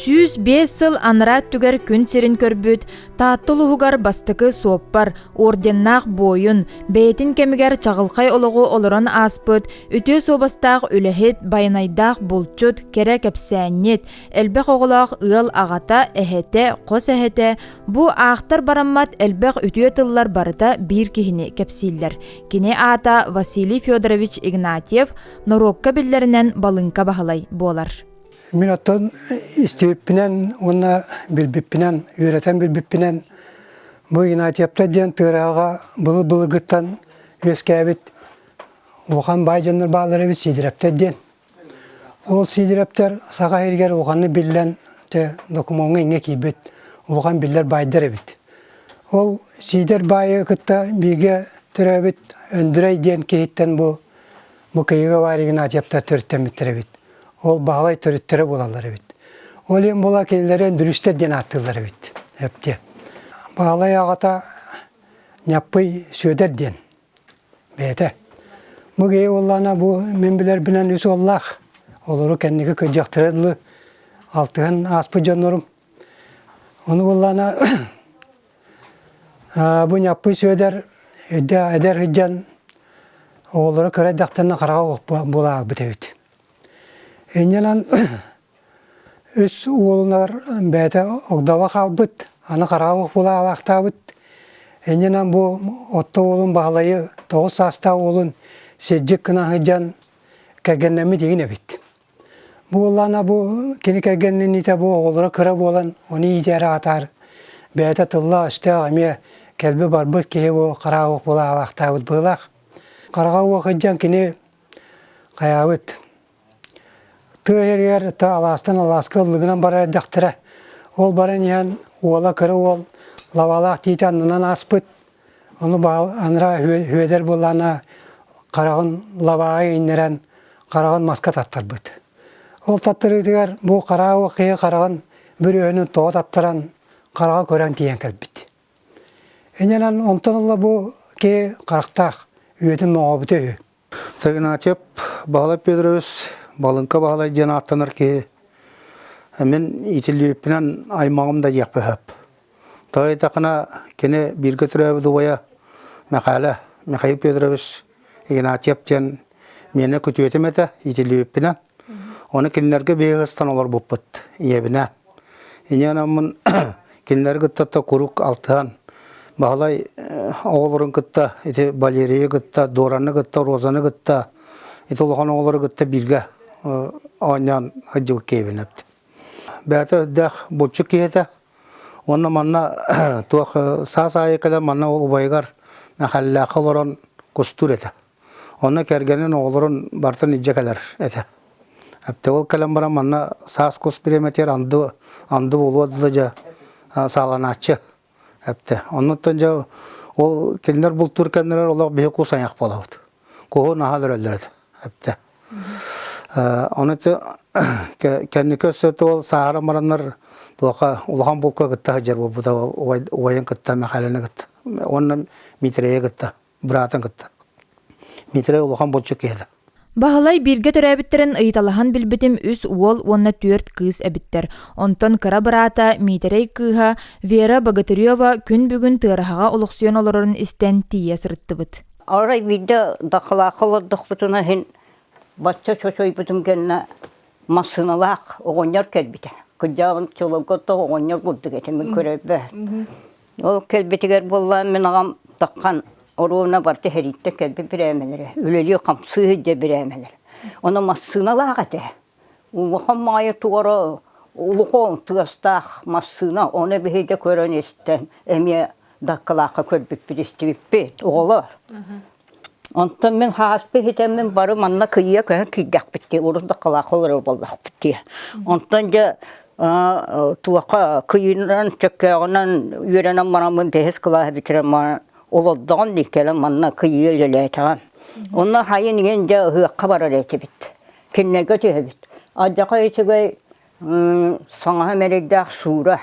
Сүүс биэс сыл анараа өттүгэр күн сирин көрбүт Таатта улуһугар бастакы суоппар, орденнаах буойун, бэйэтин кэмигэр чаҕылхай олоҕу олорон ааспыт, үтүө суобастаах үлэһит, байанайдаах булчут, кэрэ кэпсээнньит, элбэх оҕолоох ыал аҕата, эһэтэ, хос эһэтэ, Бу аахтар бараммат элбэх үтүө тыллар барыта биир киһини кэпсииллэр. Кини аата Василий Федорович Игнатьев, норуокка биллэринэн Балыҥка Баһылай буолар. Мин оттон истибиппинэн уонна билбиппинэн, үөрэтэн билбиппинэн бу Игнатьевта диэн тыырааҕа былыр-былыргыттан үөскээбит улахан баай дьоннор баалар эбит Сидоровтар диэн. Ол Сидоровтар саха сиригэр улаханнык биллэн дьэ, докумуоҥҥа ингэ киирбит улахан биллэр баайдар эбит. Ол Сидор баайы кытта бииргэ төрөөбүт Өндүрэй диэн киһиттэн бу бу Кыйыга Варя Игнатьевтар төрүттэммиттэр эбит. Ол Баһылай төрүттэрэ буолаллар эбит. Ол иһин була кинилэри Өндүрүстэр диэн ааттыыллар эбит. Эптиэ. Баһылай аҕата Ньаппый Сүөдэр диэн бэйэтэ. Бу киһи уоллаана бу мин билэрбинэн үс уоллаах. Олору кэнники кыдьахтара дылы алтыһан ааспыт дьоннорум. Ону уоллаана бу Ньаппый Сүөдэр эдэр сыдьан оҕолоро кыра эрдэхтэн хараҕа була аахбыт эбит. Инньэнэн Үс уолунар бэйэтэ огдово хаалбыт, аны хараабыл кулаалаахтаабыт. Иннинэн бу отто уолун Баһылайы тоҕус саастаах уолун сирдьик гына сылдьан кэргэннэммит игин эбит. Бу уоллаана бу кини кэргэнниниитэ бу оҕолоро кыра буолан ону иитээри аатаар бэйэтэ тыллаах-өстөөх эмиэ кэлби-барбыт киһи бу хараабыл кулаалаахтаабыт быһыылаах. Хараҕа уох сылдьан кини хайаабыт Тыа сиригэр алаастан алааска ыллыгынан барар эрдэхтэрэ. Ол баран иһэн уола кыра уол лабаалаах тиити аннынан ааспыт. Ону анараа Сүөдэр буоллаҕына хараҕын лабааҕа иҥнэрэн хараҕын маска таттарбыт. Ол таттарыытыгар бу хараа киһи хараҕын бүрүөһүнүн тоҕо таттаран хараҕа көрөн тиийэн кэлбит. Иннинэн онтон ыла бу киһи харахтаах, үөтүн моҥообута үһү. Тагиначев Баһылай Петрович Балынка Баһылай диэн ааттанар киһи мин итилиэппинэн аймаҕым да диэх бэһэп. Тоy этахына кини бииргэ төрөөбүт убайа Михаля Михаил Петрович Игнатьев диэн миэнэ күтүөтүм этэ итилиэппинэн Ону кинилэргэ биһиги ыстан олорбуппут ийэбинээн. Ийэ анаммын кинилэри кытта да куруук алтыһан Баһылай оҕолорун кытта ити Валерийы кытта Дораны кытта Розаны кытта ити улахан оҕолору кытта бииргэ оонньоон сылдьыбыт киһибинэбит. Бэйэтэ үрдээх булчут киһитэ уонна манна туох саас аайы кэлэн манна убайыгар Мэхэллээххэ олорон кустуур этэ. Онно кэргэнин оҕолорун барытын илдьэ кэлэр этэ. Ол кэлэн баран манна саас кус премэтигэр анды анды буолуо да дьэ сааланааччы эптэ. Оннуттан дьэ ол кинилэр бултуур кэннилэр олох биһи кус айах буолабыт. Куһун аһа өлөрөллөр этэ эптэ. Ону кэнники өссө ол сааһара мараннар туоха улахан булка кытта сылдьар буолбута убайын кытта Мэхээлэни кытта уонна Миитирэйи кытта. быраатын кытта. Митрей улахан булчут киһитэ. Баһылай бииргэ төрөөбүттэрин ыйыталаһан билбитим үс уол уонна түөрт кыыс эбиттэр. Онтон кыра быраата Миитэрэй кыыһа Вера Богатырева күн бүгүн тыараһаҕа олохсуйан олорорун истэн тиийэ сырыттыбыт. Арай биирдэ дакылаакка олордохпутуна иһин бачча чочойбутум кэннэ массыыналаах оҕонньор кэлбитэ. Кырдьаҕын чоловготтоох оҕонньор курдук этэ мин көрөрбө. Ол кэлбитигэр буоллаан мин аҕам таххан оруона бар тэһэриттэ кэлби бирээмэлэрэ, үлэлии-хамсыы сылдьар бирээмэлэр. Ону массыыналаах этэ. Улахан Маайа туора улахан тыастаах массыына ону биһиги көрөн-истэн эмиэ Даккалаахха көрбүппүт истибиппит, оҕолоор. Онтон мин һааспы иһитэммин бары манна кыйыа көһөн киирдэхпит дии, урут да халаакка олорор буоллахпыт дии. Онтон дьэ туохха кыйыынан, чөккөөҕүнэн үөрэнэн бараммын бэһис кылаас бүтэрэн баран олордоҕум дии кэлэн манна кыйыы үлэлээтэҕим. Онно хайын иҥэн дьэ ыһыахха барар этибит. Кинилэргэ түһэбит. Алдьархай үчүгэй саҥаһа мэрэйдээх Шура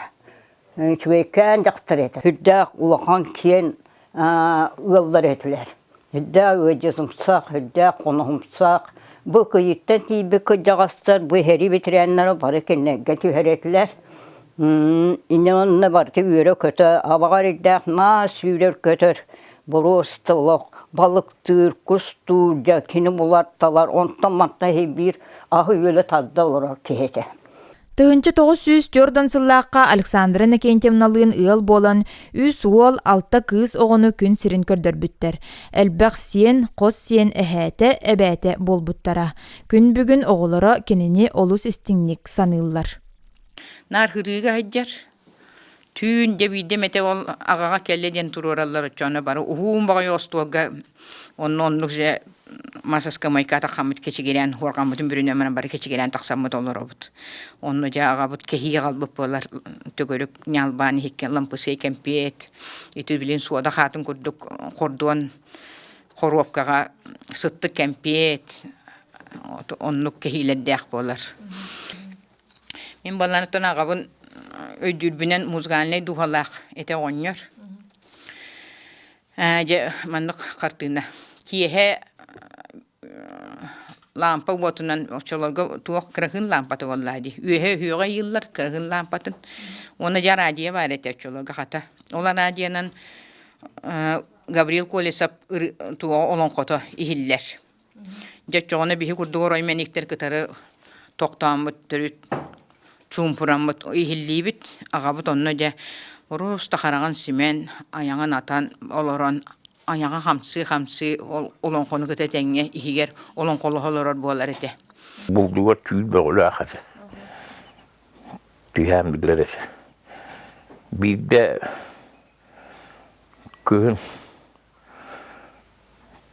үчүгэйкээн дьахтар этэ. Үрдээх улахан киэн ыаллар этилэр. Үрдээх ыалдьытымсах, үрдээх хоноһумсах. Бу кыйыттан тиийбит кырдьаҕастар бу иһэрии ветераннара бары кинилэргэ түһэрэтилэр. Иннэ онно барыта үөрэ-көтө, абаҕар ирдээх маас сүүрэр-көтөр, боруоста олох, балыктыыр, кустуур, дьэ кини булар-талар, онтон-мантан иһи биир аһы-үөлү тарда олорор киһи этэ. Тыһынчы тоғыз сүүс төрдан сыллаахха Александра Иннокентьевналыын ыал буолан, үс уол, алта кыыс оҕону күн сирин көрдөрбүттэр. Элбэх сиэн, хос сиэн эһээтэ, эбээтэ буолбуттара. Күн бүгүн оҕолоро кинини олус истиҥник саныыллар. Наар хырыыга сылдьар, түүн дьэ биирдэ эмэтэ ол аҕаҕа кэллэ диэн туруораллар оччоно бары уһуум боҕойу остуолга онно оннук дьэ масаска майка тахаммыт кэчигирээн хуорҕаммытын бүрүнөммүн бары кэчигирээн тахсаммыт олоробут онно дьэ аҕабыт кэһии аҕалбыт буолар төгүрүк ньалбаан иһиккэ лампысыай кэмпиэт ити билин суода хаатын курдук хордуон хоруопкаҕа сыттык кэмпиэт оннук кэһиилэрдээх буолар Мин балланыттан аҕабын өйдүүрбүнэн музыкальнай дууһалаах этэ оҕонньор. Дьэ маннык хартыына. Киэһэ лаампа уотунан оччолорго туох кыраһыын лаампата буоллаа дии. Үөһэ үһүөҕэ ыйыыллар кыраһыын лаампатын. Уонна дьэ араадьыйа баар этэ оччолорго хата. Ол араадьыйанан Гаврил Колесов олоҥхото иһиллэр. Дьэ оччоҕуна биһи курдук орой мэниктэр кытары тохтооммут төрүт чуумпураммыт иһиллиибит аҕабыт онно дьэ орус да хараҕын симэн айаҕын атан олорон айаҕа хамсыы-хамсыы ол олоҥхону кытта тэҥҥэ иһигэр олоҥхолоһо олорор буолар этэ. Булдугар түүл бөҕүлээх этэ. Түһээн билэр этэ. Биирдэ кыһын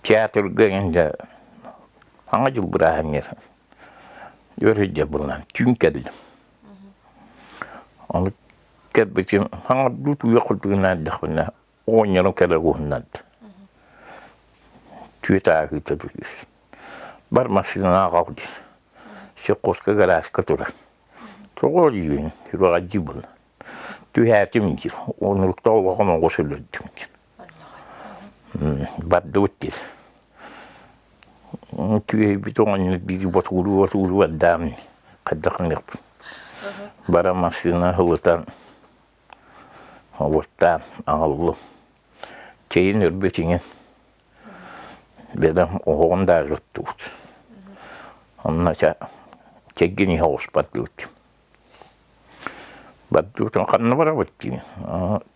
Театрга инде Аҥа дьыл бырааһынньык үөрүйдэ булунан түүн кэллим. Ону кэлбитим хаҥардыы тууйа курдугунна эрдэхпинэ оҕонньорум кэлэ уһуннард. Түөт ааһыыта дир. Бар массыынаҕа ҕал дир. Сокуоска гарааска турар. Тоҕо диибин сүбэҕэдьи булан. Түһээтим дир. Онуруктаах олоҕум оҕус өлөрдүм дир. Бардыбыт диир. Түөһэйбит оҕонньор биир ботугуруу-ботугуруу бардаам дии. Хайдах гыныахпын. Баран массыына ылытан обуттаан аҕаллым. Чэйин өрбүт иҥин. Бэдам оһоҕун да аҕыттыбыт. Онно ча чэггин иһэ оҕуспаттыбыт. Бардыбытын ханна барабыт дии.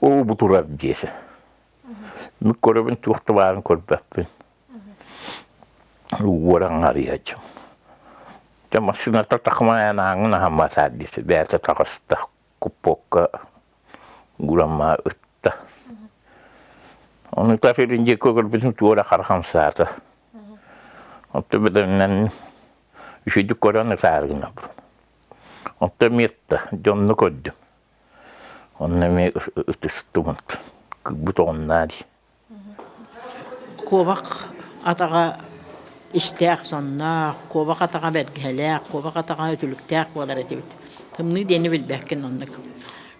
Оо, бу турар диэse. Мин көрөбүн туох да баарын көрбөппүн. Уоран арыйа дьон. Дьэ массыыната такымаайан ааҥын аһан басаар диэse. Бэйэтэ таҕыста купокка гурамма ытта. Ону тафирин диэки көрбүтүм туора хархам саата. Отто бөдөннөн үшүйдүк көрөн ытаары гынабын. Отто метта, дьонну көрдүм. Онно эмиэ ытыстыбыт. Кырбыт оҕуннаа дии. Куобах атаҕа истээх сонноох, куобах атаҕа бэргэһэлээх, куобах атаҕа үтүлүктээх буолар этибит. Тымныы диэни билбэккин оннук.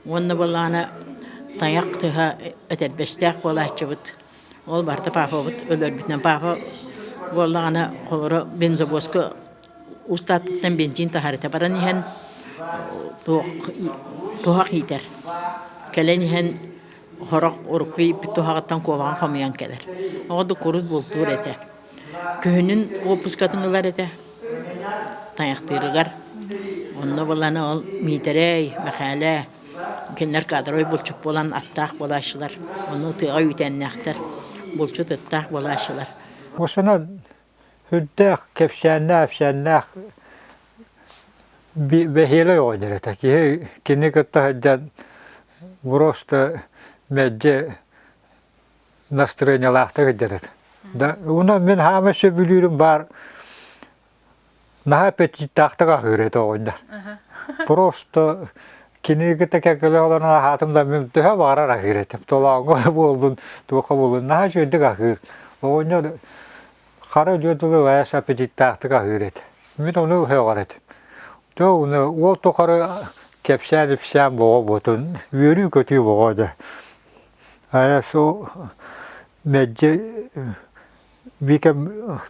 Уонна буоллаҕына тайах тыһа этэрбэстээх буолааччыбыт. Ол барта папабыт өлөрбүтүнэн папа буоллаҕына холоро бензобоска устаатыттан бензин таһарыта баран иһэн туох туһах иитэр. Кэлэн иһэн хорох урукку ииппит туһаҕыттан куобаҕа хомуйан кэлэр. Ол курдук курус бултуур этэ. Күһүнүн уоппускатын ылар этэ тайахтыырыгар. Онно буланы ол Миитэрэй, Мэхээлэ кинилэр кадровый булчут буолан аттаах буолааччылар. Ону тыаҕа үүтээннээхтэр, булчут ыттаах буолааччылар. Осана үрдээх кэпсээннээх-апсээннээх бэһиэлэй оҕонньор этэ. Киһи кини кытта сылдьан просто мэлдьи настроениялаахтык илдьэрит. Да уну мин хаама сөбүлүүрүм баар наһаа аппетиттаахтык аһыыр этэ оҕунда. Просто кинигите кэккеле олорон аһаатым да мин төһө баҕарар аһыыр этим. Толооҥго буоллун, туохха буоллун, наһаа үчүгэйдик аһыыр. Оҕунда хара үдүө тылы вайас аппетиттаахтык аһыыр этэ. Мин ону өһөҕөр этим. То уну ол тухары кэпсээн ипсээн боҕо ботун үөрүү көтүү боҕо да. Айасу мэлдьи Викам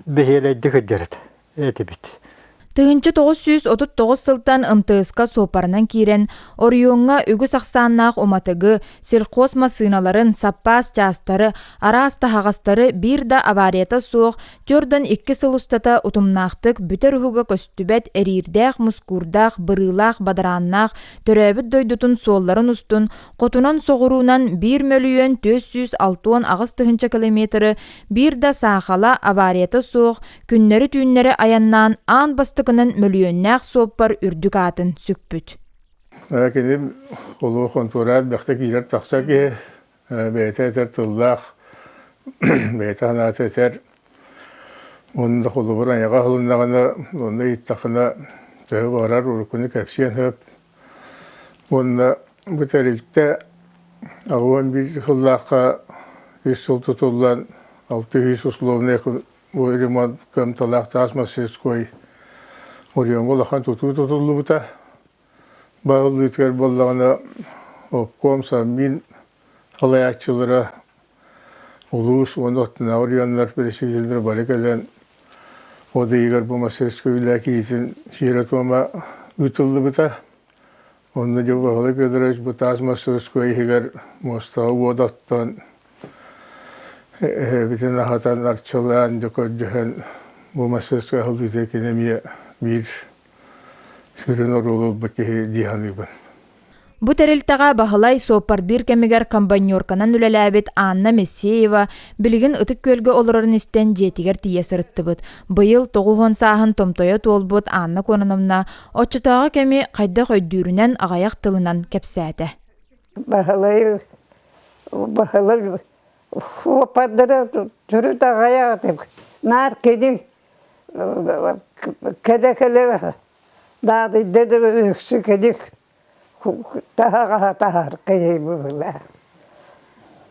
бэһиэлэйдик сылдьарыт этибит Тыһыынча тоҕус сүүс отут тоҕус сылтан МТС-ка суоппарынан киирэн, оройуоҥҥа үгүс ахсааннаах уматыгы, сельхоз массыыналарын, саппаас чаастары, араас таһаҕастары биир да аварията суох түөрт уон икки сыл устата утумнаахтык бүтэр уһуга көстүбэт эриирдээх, мускуурдаах, бырыылаах, бадарааннаах, төрөөбүт дойдутун суолларын устун Хотунан соҕуруунан 1 мөлүйүөн 406 аҕыс тыһыынча километры биир да саахала аварията суох күннэри-түүннэри айаннаан аан бастакынан мөлүйүөннээх суоппар үрдүк аатын сүкпүт. Кини улуу хонтуораат бэхтэ киирэр тахса киһи бэйэтэ этэр тыллаах бэйэтэ санаата этэр онно холобур айаҕа ылыннаҕына онно иттахына төһө барар уруккуну кэпсиэн сөп Уонна бу тэрилтэ аҕыс уон биир сыллаахха үс сыл тутуллан алты сүүс условнай ремонт кыамталаах таас мастерской оройуонга улахан тутуу тутуллубута. Баһыллыытыгар буоллаҕына обком, Саммин халайааччылара улуус уонна аттынааҕы оройуоннар бэрэсидьиэннэрэ бары кэлэн от ыйыгар бу мастерскай үлэ киитин сиэрэ-туома ыытыллыбыта. Онно Дьылҕаһыла Федорович бу таас мастерскай иһигэр муостаҕа уот оттон эһэбитин аһатан арчылаан дьокордоһон бу мастерскай аһыллыыта кини эмиэ биир Сүрүн оруолу ылбыт киһи дии саныыбын. Бу тэрилтэҕэ Баһылай суоппардыыр кэмигэр комбайнерканан үлэлээбит Анна Мессеева билигин Ытык Күөлгэ олорорун истэн дьиэтигэр тиийэ сырыттыбыт. Быйыл тоҕус уон сааһын томтойо туолбут Анна Кононовна оччотооҕу кэми хайдах өйдүүрүнэн аҕайах тылынан кэпсээтэ. Баһылай Баһылай суоппардара төрүт аҕай аатык наар кини кэрэ кэлэ наадыйда да үксү кэлик таһаҕаһа таһар кэйэй быһыылаах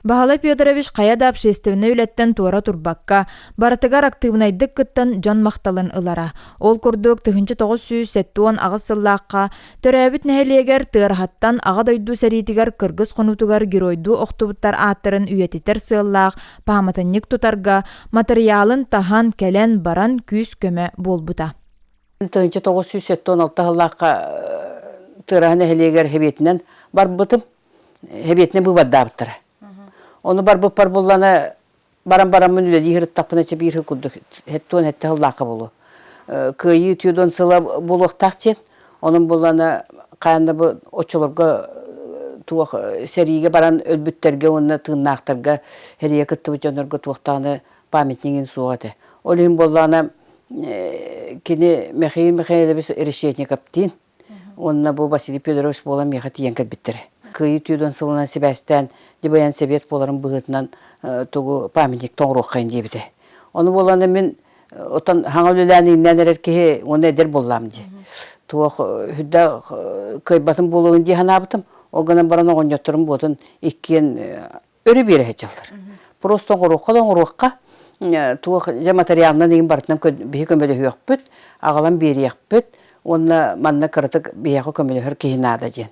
Баһылай Петрович хайа да общественнай үлэттэн туора турбакка, барытыгар актыыбынайдык кыттан дьон махталын ылара. Ол курдук тыһынча тоҕус сүүс сэттэ уон аҕыс сыллаахха төрөөбүт нэһилиэгэр Тыараһаттан Аҕа дойду сэриитигэр кыргыс хонуутугар геройдуу охтубуттар ааттарын үйэтитэр сыаллаах пааматынньык тутарга матырыйаалын таһан кэлэн баран күүс-көмө буолбута. 1976 сыллаахха Тыраһа нэһилиэгэр хэбиэтинэн барбытым. Хэбиэтинэн быыбардаабыттара. Ону барбыппар буллана баран бараммын үлэлии сырыттахпына чэбиир курдук хэттуон хетте сыллаахха болу. Кыайыы түүдон сыла булуохтаах диэн Онон булана хаанна бу оччолорго туох сэриигэ баран өлбүттэргэ уонна тыыннаахтарга эрийэ кыттыбыт дьоннорго туохтааны памятнигин суох этэ. Ол иһин буоллаана кини Михаил Михайлович Решетниковтыын уонна бу Василий Федорович буолан миэхэ тиийэн кэлбиттэрэ. Кыайыы түүрдэн сылынан сибээстээн дьыбайан сэбиэт буоларын быһыытынан тугу памятник тоҥуруоххайын диэбитэ. Ону буоллаана мин Отон хаҥа үлэлээн иҥнээн эрэр киһи уонна эдэр буллаам дии. Туох хүдэ кыайбатын буолуон дии санаабытым. Ол гынан баран оҕонньотторум буотун иккиэн өрө биэрэ сылдылар. Просто оҥоруохха да оҥоруохха. Туох дьэ материалынан иҥин барытынан биһи көмөлөһүөхпүт, аҕалан биэриэхпит уонна манна кыратык биһиэхэ көмөлөһөр киһи наада диэн.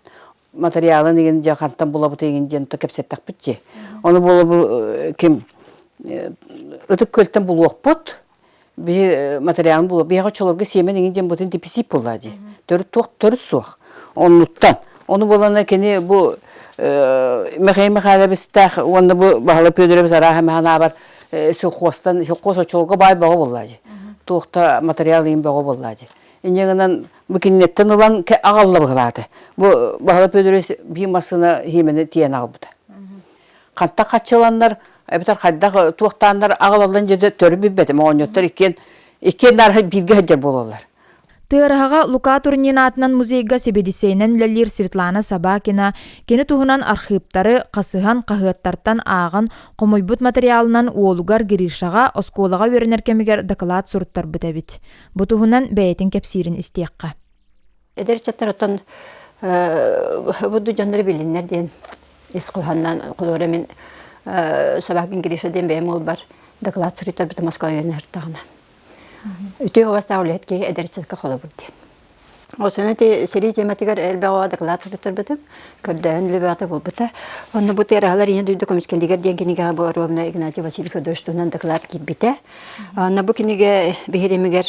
материалын игин дьэ хантан булабыт игин диэн то кэпсэттэхпит чи ону булабы ким ытык көлтен булуохпут би материалын булу биһиэхэ чолорго сиэмен игин диэн бутын деписип булла ди төрүт туох төрүт суох оннуттан ону булана кини бу Михаил Михайловистах уонна бу Баһала Пёдорович араха механабар силхозтан силхоз очолго бай бого булла ди туохта материал ин бого булла ди инньэгынан бу кинилэттэн ылан аҕалла быһылааты. Бу Баһыла Пөдөрөс биир массыына хиимэни тиийэн аҕалбыта. Хантах хаччыланнар, эбэтэр хайдах туохтааннар аҕалаллан дьэ төрү билбэтим. Оҕонньоттор иккиэн иккиэн наарха бииргэ сылдьар буолаллар. Тыараһаҕа Лука Турнин аатынан музейга сэбиэдиссэйинэн үлэлиир Светлана Собакина кини туһунан архыыптары хасыһан хаһыаттартан ааҕан хомуйбут матырыйаалынан уолугар Гришаҕа оскуолаҕа үөрэнэр кэмигэр доклад суруттарбыт эбит. Бу туһунан бэйэтин кэпсиирин истиэххэ. Эдэр чаттар оттон будду дьоннору билиннэр диэн ис куһаннан кулуора мин собакин Гриша диэн бэйэм олбар доклад суруйтарбыта Москва үйөнү артаҕына. Үтүө уостаах үлэһитки эдэр чатка холобур диэн. Ол сана ити сэрии тематыгар элбэҕи доклад туттарбытым. Көрдөһөн лөбөҕө булбута. Онно бу терахалар ийэ дойду көмүскэлигэр диэн кинигэҕэ бу Ровно Игнатий Васильев Дойж туһунан доклад киирбитэ. Онно бу кинигэ биһиримигэр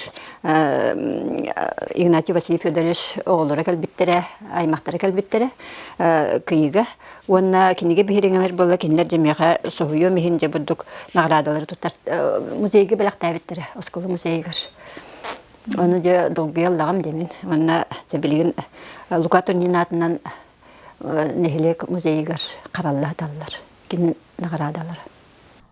Игнатий Васильев Федорович оҕолоро кэлбиттэрэ, аймақтара кэлбиттэрэ кыйыга. Уонна кинигэ биһиримигэр була кинилэр жемеха соһуйом иһин же бурдук наградалары туттар музейге бэлэхтээбиттэрэ осколы музейгар. Ону дьэ долгуйа ыллаҕым диэмин. Манна дьэ билигин Лука Турнин аатынан нэһилиэк музейыгар харалла сыталлар. Кини наҕараадалара.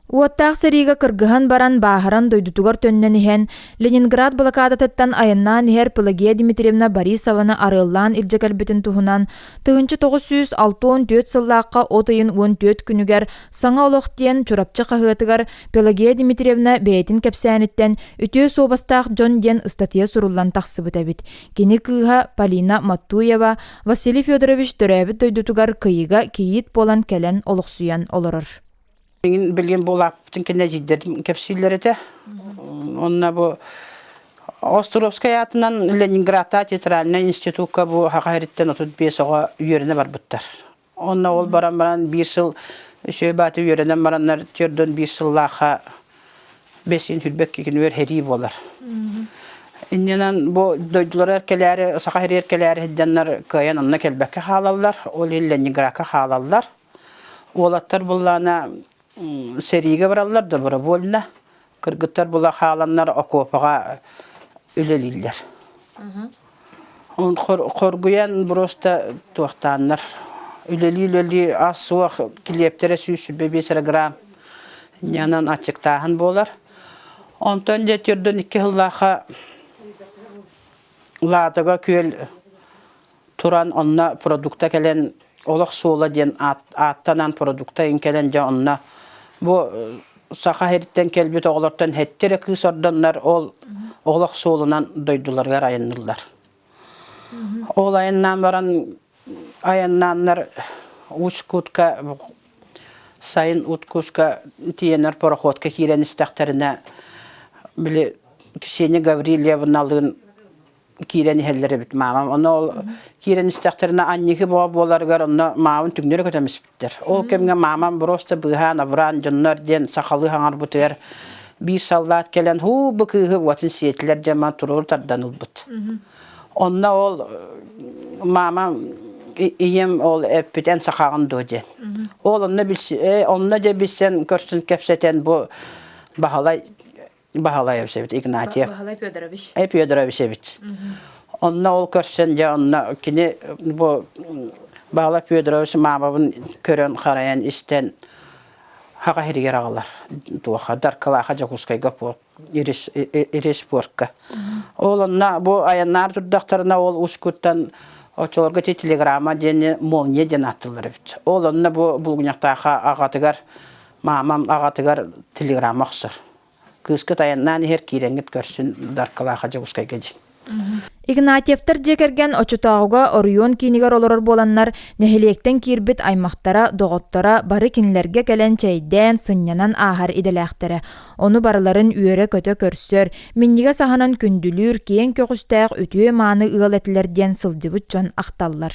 Уоттаах сэриигэ кыргыһан баран бааһыран дойдутугар төннөн иһэн Ленинград блокадатыттан айаннаан иһэр Пелагея Дмитриевна Борисованы арыаллаан илдьэ кэлбитин туһунан тыһыынча тоҕус сүүс алта уон түөрт сыллаахха от ыйын уон түөрт күнүгэр Саҥа олох диэн Чурапчы хаһыатыгар Пелагея Дмитриевна бэйэтин кэпсээниттэн «Үтүө суобастаах дьон» диэн ыстатыйа суруллан тахсыбыт эбит. Кини кыыһа Полина Маттуева Василий Федорович төрөөбүт дойдутугар кыйыга кийиит буолан кэлэн олохсуйан олорор. Мин билген булаптын кенне жиддердим кепсиллер этэ. Онна бу Островскай атынан Ленинградта театральный институтка бу хахариттен 35 оҕа үйөрүнэ барбыттар. Онно ол баран баран биир сыл үсүө бааты үөрэнэн бараннар түөрдөн биир сыллаахха бэсиин хүрбэкки кинилэр херии буолар. Иннинэн бу дойдулары кэлээри, саха хериер кэлээри сыдьаннар кыайан онно кэлбэккэ хаалаллар, ол иллэннигракка хаалаллар. Уолаттар буллаана Сэриигэ бараллар добровольно. Кыргыттар була хааланнар окуопаҕа үлэлииллэр. Хоргуйан просто туохтааннар. Үлэлии-үлэлии ас-суох килиэптэрэ сүүс сүбэ биэс грамм ньанан аччыктааһын буолар. Онтон дьэ төрдөн икки сыллаахха Лаатыга күөл туран онно продукта кэлэн олох суола диэн аат, ааттанан продукта ин кэлэн дьэ онно бу э, саха иһиттэн кэлбит оҕолортон хэттирэ кыыс ордоннор ол олох суолунан дойдуларыгар айанныллар. Ол айаннаан баран айаннааннар Учкутка сайын Уткуска тиенер пароходка киирэн истэхтэринэ били Ксения Гаврильевналыын киирэн иһэллэр эбит маамам. Ону киирэн истэхтэринэ анньыгы боо буоларыгар онно маабын түҥнэри көтөн испиттэр. Ол кэмҥэ маамам просто быыһаан авраан дьоннор диэн сахалыы хаҥарбытыгар биир саллаат кэлэн һуу бу кыыһы уотун сиэтилэр диэн маа туруору тардан ылбыт. Онно ол маамам ийэм ол эппит эн сахаҕын дуо диэн. Ол онно билси онно дьэ билсэн көрсүн кэпсэтэн бу Баһылай Баһылай эбсэбит Игнатьев. Баһылай Федорович. Э, Федорович эбит. Онна ол көрсөн дьэ онно кини бу Баһылай Федорович маамабын көрөн харайан истэн хаҕа хиригер аҕалар туоха даркалааха Дьокускайга ирис ирис пуорка. Ол онна бу аяннаар турдахтарына ол ускуттан очолорго ти телеграмма диэни молния диэн аттылар эбит. Ол онна бу булгуньахтааха аҕатыгар Маамам аҕатыгар телеграмма охсор. Кыыскыт айаннаан иһэр киирэҥҥит көрсүн Даркылааха Дьокуускайга дьин. Игнатьевтар дьиэ кэргэн оччотооҕуга оройуон киинигэр олорор буоланнар, нэһилиэктэн киирбит аймахтара, доҕотторо бары кинилэргэ кэлэн чэйдээн, сынньанан ааһар идэлээхтэрэ. Ону барыларын үөрэ-көтө көрсөр, минньигэс аһынан күндүлүүр киэҥ көҕүстээх үтүө-мааны ыал этилэр диэн сылдьыбыт дьон ахталлар.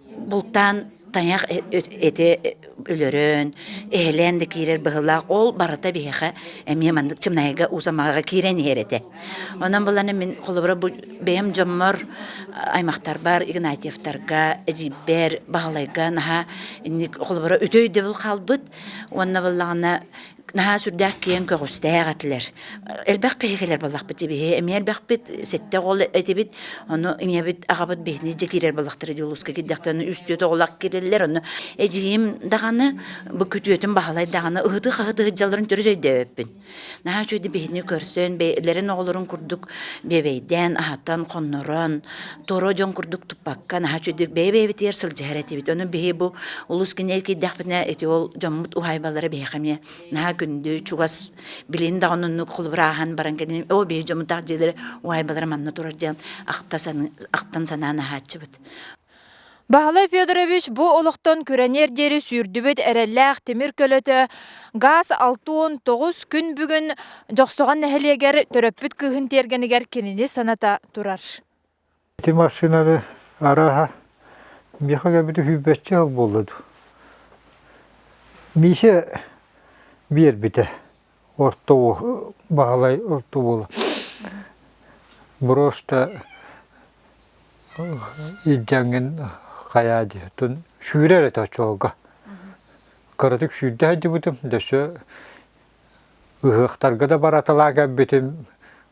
Бултаан тайах эти өлөрөн, эһэлээн да киирэр быһылаах, ол барыта биһиэхэ эмиэ маннык чымнайга уусамаҕа киирэн иһэр этэ. Онон буланы мин холобура бу бэйэм дьоммор, аймахтарбар, Игнатьевтарга, Эдьиийбэр, Баһылайга наһаа инник холобура үтөй дөбүл хаалбыт. Уонна буллаҕына наһаа сүрдээх киэҥ көҕүстээх этилэр. Элбэх киһи кэлэр буоллахпыт дибиһи, эмиэ элбэхпит сэтте оҕол этибит, ону ийэбит, аҕабыт биһини дьэ киирэр буоллахтара дьулуска кирдэхтэ, ону үстүөт оҕолор кирэллэр, ону эдьиийим даҕаны, бу күтүөтүн Баһылай даҕаны ыһыты-хаһыты ыһыддьалларын төрүт өйдөөбөппүн. Наһаа үчүгэй биһини көрсөн, бэйэлэрин оҕолорун курдук биэбэйдээн, аһатан, хоннорон, Торо дьон курдук туппакка, наһаа үчүгдүк бэйэ-бэйэбитигэр сылдьар этибит. Ону биһи бу улус кинигэ киирдэхпинэ, ити ол дьоммут уһаайбалара биһиэхэ эмиэ наһаа күндү, чугас, билин даҕаны оннук холбураһан баран кэлин, оо биһи дьоммутаах дьиэлэри уһаайбалара манна турар диэн ахта сан, ахтан санаан аһааччыбыт. Баһылай Федорович бу олохтон күрэниэр диэри сүүрдүбүт эрэллээх тимир көлөтө газ алтуун тоҕус күн бүгүн Дьохсоҕон нэһилиэгэр төрөппүт кыыһын тиэргэнигэр кинини саната турар. Ити массыынаны арааһа миэхэ эбити hүйбөччө ол буолла дуу. Миисэ биэрбитэ орто уол Баһылай орто уола брошта илдьэҥҥин хайаа диэтин сүүрэр этэ оччолорго кыратык сүүрдэ сылдьыбытым дөссө ыһыахтарга да бараталаа кэлбитим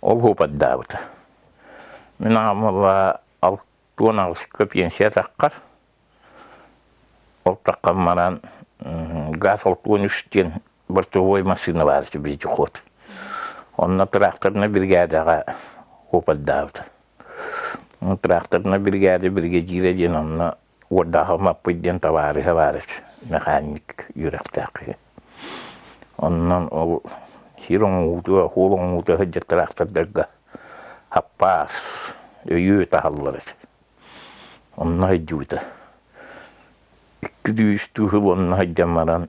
ол уопардаабыта. Мин аҕамыла уон аҕысыкка пенсия таххар, ол таххан баран газ уон үс диэн бортовой массыына баар этэ вездеход. Онно тыраахтарына биригээдэҕэ уопардаабыта. Тыраахтарына биригээдэ биригэдьиирэ диэн онно Уордаахым Аппыт диэн табаарыһа баар механик үөрэхтээх киһи. Онон ол сир оҥоһуута, оһуол оҥоһуута сылдьар тыраахтардарга хаппаас, өйүө таһаллар эти. Онно сылдьыбыта. Икки сүүс сыл онно сылдьан баран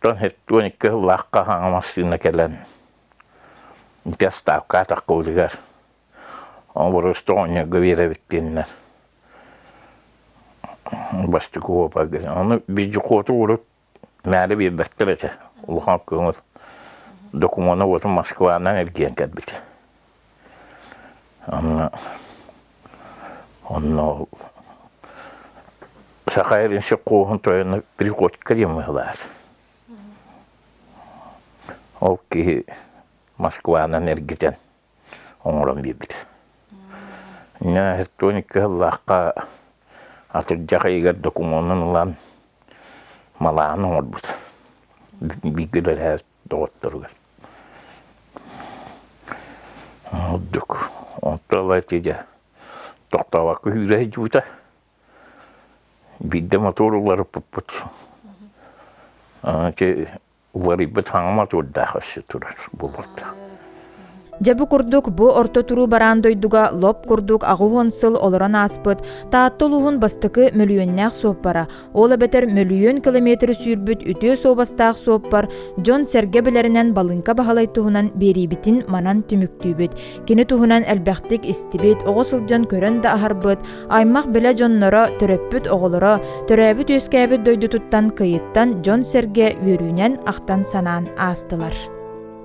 Дьон сэттион икки сыллаах хаһааҥҥа массыына кэлэн ити ставка атаххыбытыгар оборуосту оонньорго биэрэбиттииннэр бастык уопа ону бизжукуоту урут мээри биэрбэттэр этэ улахан көҥүл докумуона уоту Москванан эргийэн кэлбит Онно онно ол Саха Эринсик Кууһун тойоно приходько Римылаах. Ол киһи Москванан эргитэн оҥорон биэрбит. Инна электроникка ыллаахха атырдьах ыйыгар докумуонун ылан малаан оҥорбут. Бииргэ үлэлээбит доҕотторугар. Ордук. Онто ыла тиде тохтообокко сүүрэ сылдьыбыта. Биирдэ мотор уларыппыппыт. Ити уларыйбыт хаҥа мотордаах өссө турар буларда. Дьэ бу курдук бу орто туруу бараан дойдуга лоп курдук аҕыс сыл олорон ааспыт Таатта улууһун бастакы мөлүйүөннээх суоппара, ол эбэтэр мөлүйүөн километр сүүрбүт үтүө суобастаах суоппар дьон-сэргэ билэринэн Балыҥка Баһылай туһунан биэриибитин манан түмүктүүбүт. Кини туһунан элбэхтик истибит, оҕо сылдьан көрөн да аһарбыт, аймах-билэ дьонноро, төрөппүт оҕолоро, төрөөбүт-үөскээбит дойдутуттан кыйыттан дьон-сэргэ үөрүүнэн ахтан-санаан аастылар.